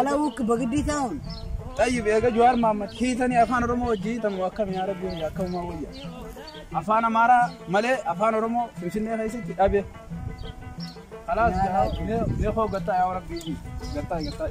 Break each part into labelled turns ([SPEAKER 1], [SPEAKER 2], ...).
[SPEAKER 1] Alawuk
[SPEAKER 2] bagdii taa'un. Xayyib eega
[SPEAKER 1] Jawaar Mahammad hiitanii afaan Oromoo wajjin hiitamu akkami yaa rabbi wayya akka uumaa wayya. Afaan Amaaraa malee afaan Oromoo Finfinnee keessatti dhabe. Kalaas mee koo gattaa yaa rabbi gattaa gattaa.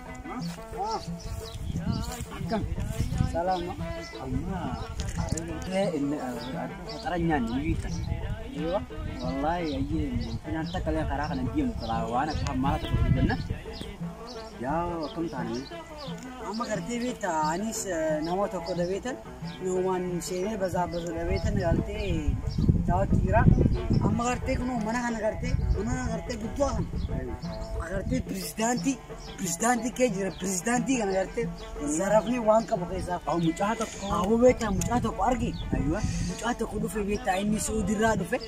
[SPEAKER 2] Akkam? Salaama. Amma
[SPEAKER 3] arree inni faxaranyaan ni biita.
[SPEAKER 2] Wallaahi
[SPEAKER 3] ayyee finaan takka illee karaa kana deemu qaba waan akka hammaa tokko hin jenna. Yaa akkam taane? Amma gartee
[SPEAKER 2] beektaa anis nama tokko dhabeetan Yoomaan seenee basaa basu dhabeetan gartee daawwatti jira. Amma gartee kunoo mana kana gartee mana kana gartee guddoo kana. Agartee pirezidaantii pirezidaantii kee jira pirezidaantii kana gartee zarafni waan qabu keessaa. Aw mucaa tokko.
[SPEAKER 3] Aboo beektaa mucaa
[SPEAKER 2] tokko arge. Mucaa
[SPEAKER 3] tokko dhufe
[SPEAKER 2] beektaa inni suudirraa dhufe.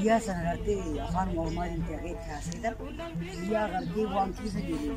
[SPEAKER 2] Biyyaa sana gartee afaan Oromaatiin ta'ee taasisan biyyaa gartee waan keessa jiru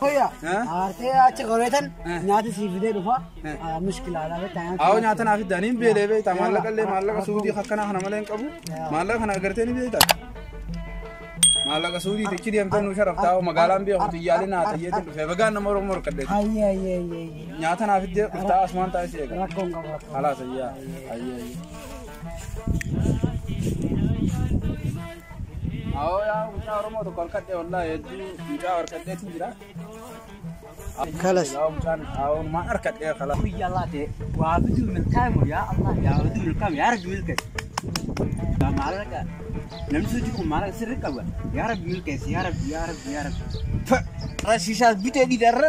[SPEAKER 1] Koya,
[SPEAKER 2] aartee achi qoreetan nyaata sii fidee dhufa. Mushkilaalaa beektaa nyaata. Aawoo nyaata naaf iddaan hin
[SPEAKER 1] beelee beektaa maallaqa illee maallaqa suudii akkanaa kana malee hin qabu maallaqa kana agartee ni beektaa. Maallaqa suudii tichi deemtee nu sharaftaa hoo magaalaan beeku xiyyaalee naa xiyyeetiin dhufee bagaan nama Oromoo harkadheeti. Ayyee ayyee ayyee ayyee.
[SPEAKER 2] Nyaata naaf
[SPEAKER 1] iddee dhuftaa asumaan taa'ee si eega. Rakkoon qabu rakkoon. Halaas ayyaa. Ayyee ayyee. Awoo yaa mucaa Oromoo tokko harkadhee wallaahi hedduu mucaa harkadheetu jira.
[SPEAKER 2] Kalas. Yaa mucaan
[SPEAKER 1] awoo maa harkadhee kalas. Biyya Allah ta'e
[SPEAKER 3] waa biduu milkaa'e yaa Allah yaa biduu milkaa'e yaa rabbi milkaa'e. Yaa maallaqa namni sochii kun maallaqa sirri qaba yaa rabbi milkaa'e yaa rabbi yaa rabbi yaa rabbi. Rashiishaas bitee dhiidarra.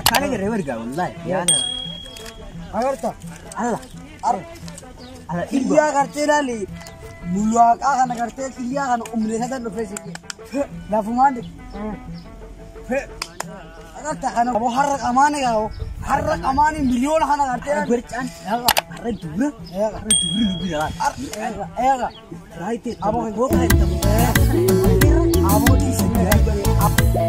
[SPEAKER 3] Akkaana garee wargaa wallaahi. Yaana.
[SPEAKER 2] Agarta. Alla.
[SPEAKER 3] Ar.
[SPEAKER 2] Alla dhibba. Biyyaa gartee laali. Mulwaaqaa kana gartee biyyaa kana umleessatan dhufee si. Lafumaan de. Agarta kana boo har'a qamaane gaa'oo. Har'a qamaane miliyoona kana gartee laali. Barcaan. Eega. Har'a
[SPEAKER 3] dubra. Eega. Har'a dubri lubbi dhala. Eega. Eega.
[SPEAKER 2] Raayitee. Aboo goota. Aboo dhiisee.